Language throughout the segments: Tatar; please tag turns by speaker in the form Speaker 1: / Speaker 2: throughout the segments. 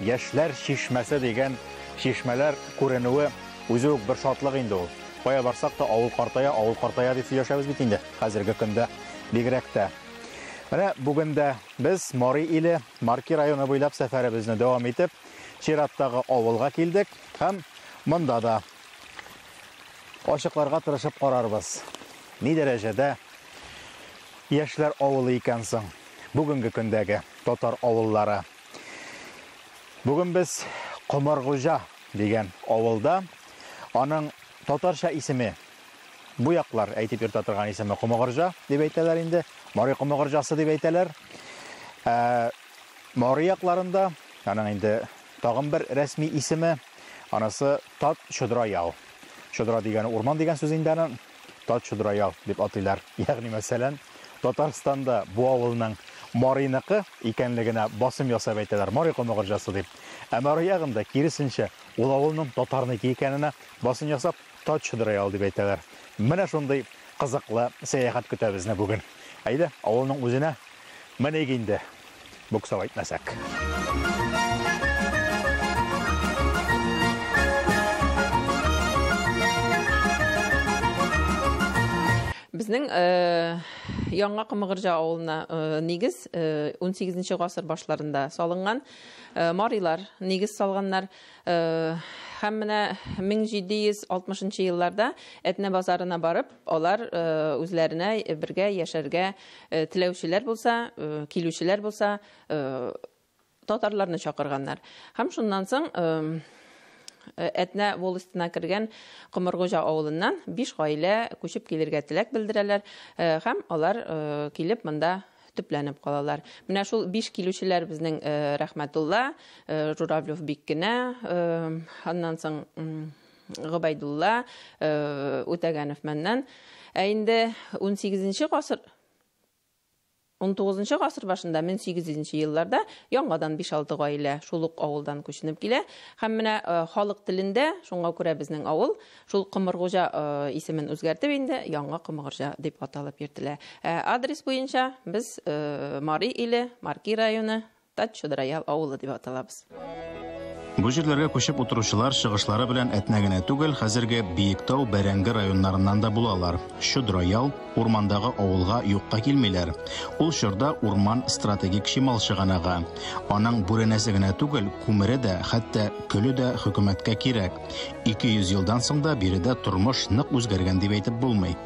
Speaker 1: Яшьләр чишмәсе дигән чишмәләр күренүе үзе үк бер шатлык инде ул. Кая барсак та, авыл картая, авыл картая дип сөйләшәбез бит инде, хәзерге көндә бигрәк тә. Менә бүген дә без Мари Иле, Марки районы буйлап сәфәребезне дәвам итеп, чираттагы авылга килдек һәм монда да ачыкларга тырышып карарбыз, ни дәрәҗәдә яшьләр авылы икән соң бүгенге көндәге татар авыллары. Бүген без Комыргуҗа дигән авылда. Аның татарча исеме бу яклар әйтеп йөртә торган исеме Комыгырҗа дип әйтәләр инде. Мари Комыгырҗасы дип әйтәләр. Ә Мари якларында аның инде тагын бер рәсми исеме, анысы Тат Чодра яу. Чодра дигәне урман дигән сүз инде аның. Тачудраял дип атыйлар. Ягъни, мәсәлән, Татарстанда бу авылның Марийныкы икәнлегенә басым ясап әйтәләр, Мари Комыгырҗасы дип. Ә Мари ягында, киресенчә, ул авылның татарныкы икәненә басым ясап, Тачудраял дип әйтәләр. Менә шундый кызыклы сәяхәт көтә безне бүген. Әйдә, авылның үзенә Меник инде, буксау әйтмәсәк.
Speaker 2: Безнең Яңа Кымыгырҗа авылына нигез унсигезенче гасыр башларында салынган. Марилар нигез салганнар. Һәм менә 1760 нчы елларда Әтнә базарына барып, Алар үзләренә бергә яшәргә теләүчеләр булса, килүчеләр булса, татарларны чакырганнар. Һәм шуннан соң Әтнә волостена кергән Комыргуҗа авылыннан биш гаилә күчеп килергә теләк белдерәләр һәм алар килеп монда төпләнеп калалар. Менә шул биш килүчеләр безнең Рәхмәтулла, Журавлев Биккенә, аннан соң Гобәйдулла Үтәгәнов мәннән. Ә инде 18 гасыр 19 гасыр башында 1800 елларда яңадан 5-6 гаилә шул ук авылдан күченеп килә һәм менә э, халык телендә шуңа күрә безнең авыл шул Кымыргужа э, исемен үзгәртеп инде Яңа Кымыргужа дип аталып йөртелә. Ә адрес буенча без э, Мари иле, Марки районы, Тат чодыра ял авылы дип аталабыз. Бу
Speaker 3: җирләргә күчеп утыручылар чыгышлары белән Әтнә генә түгел, хәзерге Биектау, Бәрәңге районнарыннан да булалар. Чодра ял, урмандагы авылга юкка килмиләр. Ул чорда урман стратегик чимал чыганагы. Аның бүрәнәсе генә түгел, күмере дә, хәтта көле дә хөкүмәткә кирәк. 200 елдан соң да биредә тормыш нык үзгәргән дип әйтеп булмый.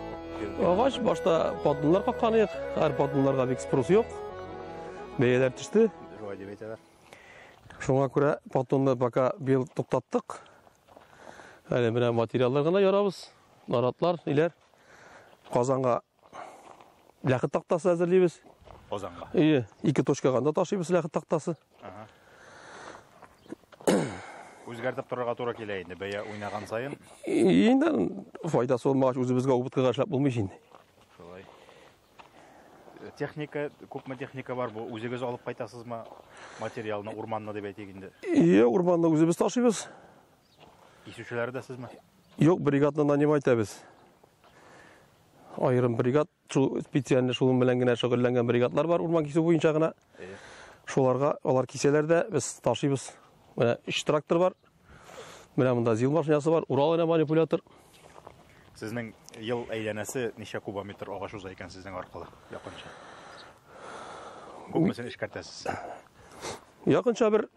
Speaker 3: Агач
Speaker 4: башта поддоннар каккан ик, хәзер поддоннарга бик спрос юк. Бәяләр төште. Шулай дип әйтәләр. Шуңа күрә патонны пока бил туктаттык. Әле менә материаллар гына ярабыз. Наратлар, иләр. Казанга ләхет тактасы әзерлибез. Казанга. Ие,
Speaker 1: ике точкага
Speaker 4: да ташыйбыз ләхет тактасы. Ага.
Speaker 1: Үзгәртеп торырга туры килә инде, бәя уйнаган сайын. Инде
Speaker 4: файдасы булмагач, үзебезгә убыткыга эшләп булмый инде.
Speaker 1: Техника, күпме техника бар бу? Үзегез алып кайтасызмы материалны, урманны дип әйтик инде? Ие, урманны үзебез
Speaker 4: ташыйбыз.
Speaker 1: Кисүчеләре дә сезме? Юк, бригадны
Speaker 4: нанимать итәбез. Аерым бригад, шул специально шуның белән генә шөгыльләнгән бригадлар бар, урман кисү буенча гына. Шуларга алар кисәләр дә, без ташыйбыз. Менә өч трактор бар. Менә монда зил машинасы бар, Урал генә манипулятор.
Speaker 1: Сезнең ел әйләнәсе ничә кубометр агач уза икән сезнең аркылы якынча? Күпмесен эшкәртәсез?
Speaker 4: Якынча бер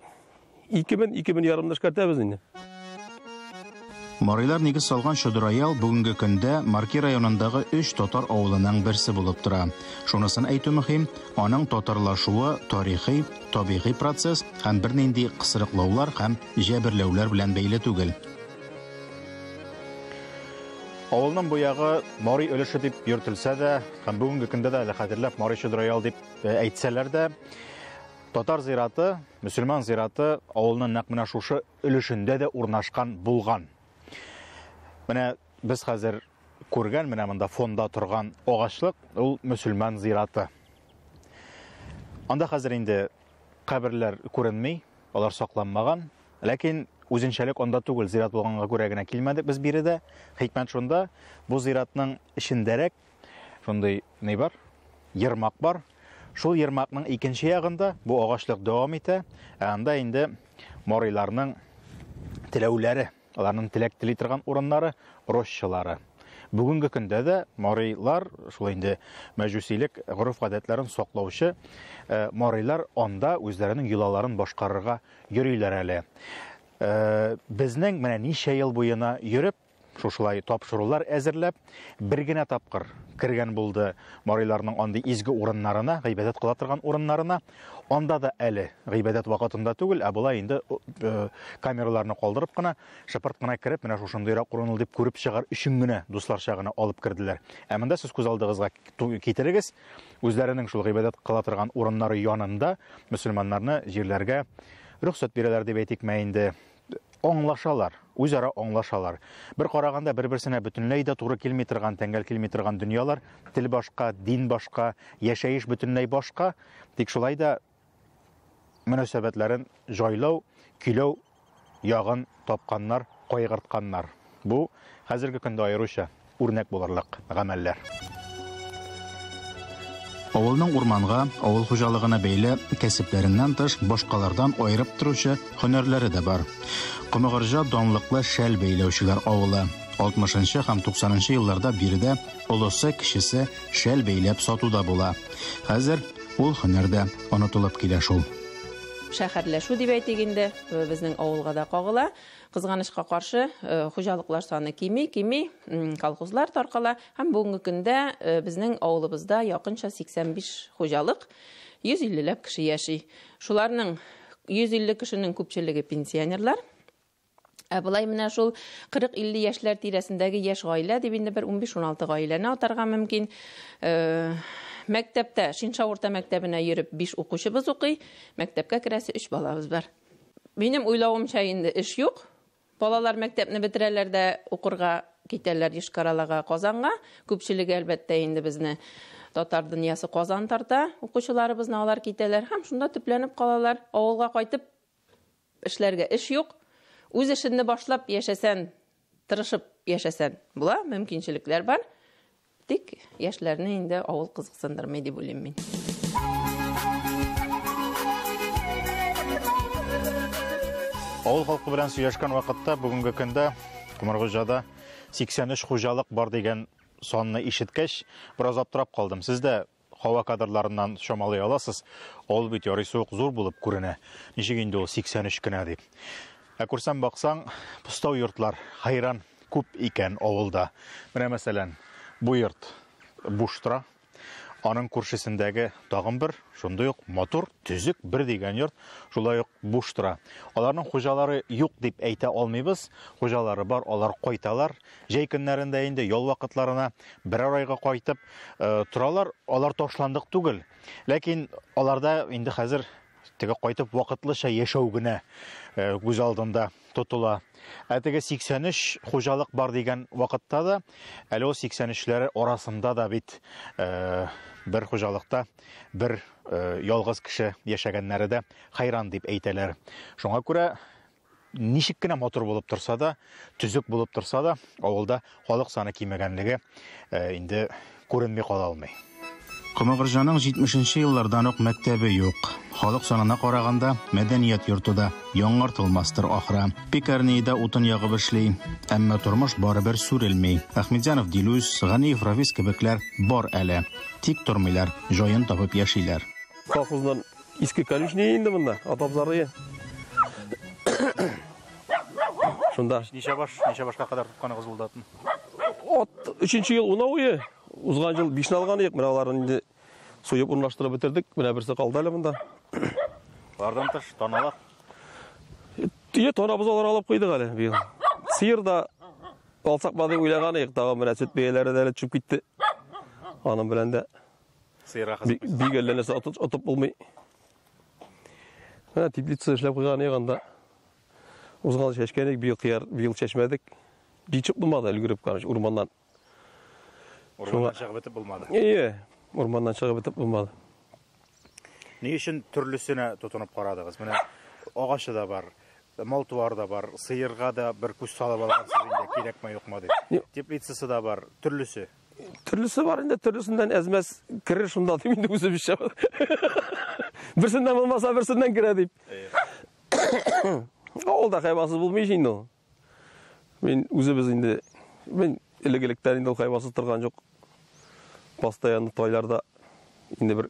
Speaker 4: Ике мен, ике мен ярымны эшкәртәбез инде. Марилар
Speaker 3: нигез салган Чодыраял бүгенге көндә Марки районындагы өч татар авылының берсе булып тора. Шунысын әйтү мөһим, аның татарлашуы тарихи, табигый процесс һәм бернинди кысрыклаулар һәм җәберләүләр белән бәйле түгел.
Speaker 1: Авылның бу ягы Мари өлеше дип йөртелсә дә, һәм бүгенге көндә дә әле хәзерләп Мари Чодыраял дип э, әйтсәләр дә, Татар зираты, мөселман зираты авылның нәкъ менә шушы өлешендә дә урнашкан булган. Менә без хәзер күргән менә монда фонда торган агачлык ул мөселман зираты. Анда хәзер инде каберләр күренми, алар сакланмаган. Ләкин үзенчәлек анда түгел, зират булганга күрә генә килмәдек без биредә. Хикмәт шунда, бу зиратның эчендәрәк Шундый ни бар? Ермак бар. Шул ермакның икенче ягында бу агачлык дәвам итә, ә анда инде морайларның теләүләре, аларның теләк тели торган урыннары, рощалары. Бүгенге көндә дә морайлар, шул инде мәҗүсилек гореф-гадәтләрен саклаучы э, морайлар анда үзләренең йолаларын башкарырга йөриләр әле. Э, безнең менә ничә ел буена йөреп, Шушылай тапшырулар әзерләп, бер генә тапкыр кергән булды мариларның андый изге урыннарына, гыйбадәт кыла торган урыннарына. Анда да әле гыйбадәт вакытында түгел, ә болай инде э, камераларны калдырып кына, шыпырт кына кереп, менә шушындыйрак урын ул дип күреп чыгар өчен генә дусларча гына алып керделәр. Ә монда сез күз алдыгызга китерегез, үзләренең шул гыйбадәт кыла торган урыннары янында мөселманнарны җирләргә рөхсәт бирәләр дип әйтикме инде. аңлашалар, үзара аңлашалар. Бер караганда бер-берсенә бөтенләй дә туры килми торган, тәңгәл килми торган дөньялар, тел башка, дин башка, яшәеш бөтенләй башка, тик шулай да мөнәсәбәтләрен җайлау, көйләү ягын тапканнар, кайгыртканнар. Бу хәзерге көндә аеруча үрнәк булырлык гамәлләр.
Speaker 3: Авылның урманга, авыл хуҗалыгына бәйле кәсепләреннән тыш, башкалардан аерып торучы һөнәрләре дә бар. Комыгырҗа данлыклы шәл бәйләүчеләр авылы. Алтмышынчы һәм туксанынчы елларда биредә олысы, кечесе шәл бәйләп сату да була. Хәзер ул һөнәр дә онытылып килә шул. Шәһәрләшү
Speaker 2: дип әйтик инде, безнең авылга да кагыла. Кызганычка каршы, хуҗалыклар саны кими, кими, колхозлар таркала һәм бүгенге көндә безнең авылыбызда якынча 85 хуҗалык, 150 ләп кеше яши. Шуларның 150 кешенең күпчелеге пенсионерлар. Ә болай менә шул 40-50 яшьләр тирәсендәге яшь гаилә дип инде бер 15-16 гаиләне атарга мөмкин. Мәктәптә, Шинша урта мәктәбенә йөреп 5 укучыбыз укый, мәктәпкә керәсе 3 балабыз бар. Минем уйлавымча инде эш юк. Балалар мәктәпне бетерәләр дә укырга китәләр Йошкар-Олага, Казанга. Күпчелеге, әлбәттә, инде безне татар дөньясы Казан тарта. Укучыларыбызны алар китәләр һәм шунда төпләнеп калалар. Авылга кайтып эшләргә эш юк. Үз эшенне башлап яшәсән, Тырышып яшәсән була, мөмкинчелекләр бар. Тик яшьләрне инде авыл кызыксындырмый дип уйлыйм мин.
Speaker 1: Авыл халкы белән сөйләшкән вакытта бүгенге көндә Кумаргуҗада 83 хуҗалык бар дигән санны ишеткәч, бераз аптырап калдым. Сез дә Һава кадрларыннан чамалый аласыз, ул бит ярыйсы ук зур булып күренә. Ничек инде ул 83 кенә дип. Ә күрсәм баксаң, пустау йортлар хәйран күп икән авылда. Менә мәсәлән, бу йорт буш тора. Аның күршесендәге тагын бер шундый ук матур, төзек бер дигән йорт шулай ук буш тора. Аларның хуҗалары юк дип әйтә алмыйбыз. Хуҗалары бар, алар кайталар. Җәй көннәрендә инде ял вакытларына берәр айга кайтып торалар. Алар ташландык түгел. Ләкин аларда инде хәзер теге кайтып вакытлыча яшәү генә күз алдында тотыла. Ә теге 83 хуҗалык бар дигән вакытта да, әле ул 83-ләре арасында да бит бер хуҗалыкта бер ялгыз кеше яшәгәннәре дә хәйран дип әйтәләр. Шуңа күрә ничек кенә матур булып торса да, төзек булып торса да, авылда халык саны кимегәнлеге э, инде күренми кала алмый. Комыгырҗаның
Speaker 3: 70 нче еллардан ук мәктәбе юк. Халык санына караганда, мәдәният йорты да яңартылмастыр ахра. Пекарниядә утын ягып эшли, әмма тормыш барыбер сүрелми. Әхмедзянов Дилүс, Ганиев Рафис кебекләр бар әле. Тик тормыйлар, җаен табып яшиләр. Колхоздан
Speaker 4: Иске конюшня инде монда, атабызарые. Шунда. Ничә баш, ничә
Speaker 1: башка кадәр тотканыгыз булды атны? От
Speaker 4: 3 ел унауы, узган ел 5 алган идек, менә аларны инде суеп урнаштырып бетердек. Менә берсе калды әле монда. Алардан
Speaker 1: тыш таналар. Тие танабыз
Speaker 4: алар алып куйдык әле быел. Сыер да алсак бады уйлаган идек, тагы менә сөт бәяләре дә төшеп китте. Аның белән дә
Speaker 1: Бик әллә нәрсә отып
Speaker 4: булмый. Менә теплица эшләп куйган ек анда. Узган чәчкәнек, быел кыяр, быел чәчмәдек. Җитеп булмады, өлгереп караш, урманнан.
Speaker 1: Урманнан чыгып бетеп булмады. Ие, урманнан
Speaker 4: чыгып бетеп булмады.
Speaker 1: Ни өчен төрлесенә тотынып карадыгыз? Менә агачы да бар, мал туар да бар, сыерга да бер күз салып алгансыз инде, кирәкме юкмы дип. Теплицасы да бар, төрлесе.
Speaker 4: Төрлесе бар инде, төрлесеннән әзмәс керер шунда дип инде үзебезчә. Берсеннән булмаса, берсеннән керә дип. Ул да хайвансыз булмый инде ул. Мин үзебез инде мин элек-электән инде хайвансыз торган юк. Постоянно тойларда инде бер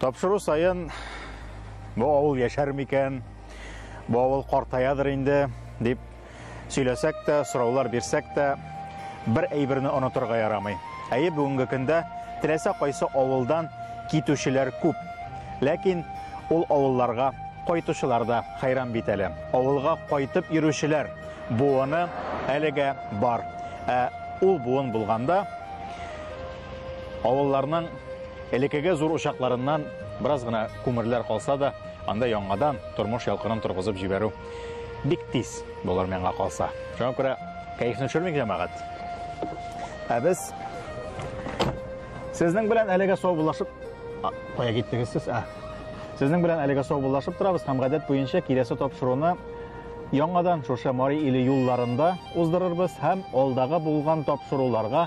Speaker 3: Тапшыру саен
Speaker 1: бу авыл яшәр микән, бу авыл картаядыр инде дип сөйләсәк тә, сораулар бирсәк тә, бер әйберне онытырга ярамый. Әйе, бүгенге көндә теләсә кайсы авылдан китүчеләр күп. Ләкин ул авылларга кайтучылар да хәйран бит әле. Авылга кайтып йөрүчеләр буыны әлегә бар. Ә ул буын булганда авылларның Элекеге зур учакларыннан бераз гына күмерләр калса да, анда яңадан тормыш ялкынын торгызып җибәрү бик тиз булыр миңа калса. Шуңа күрә кәефне төшермик, җәмәгать. Ә без сезнең белән әлегә саубуллашып кая киттегез сез? Ә. Сезнең белән әлегә саубуллашып торабыз һәм гадәт буенча киләсе тапшыруны яңадан шушы Мари иле юлларында уздырырбыз һәм алдагы булган тапшыруларга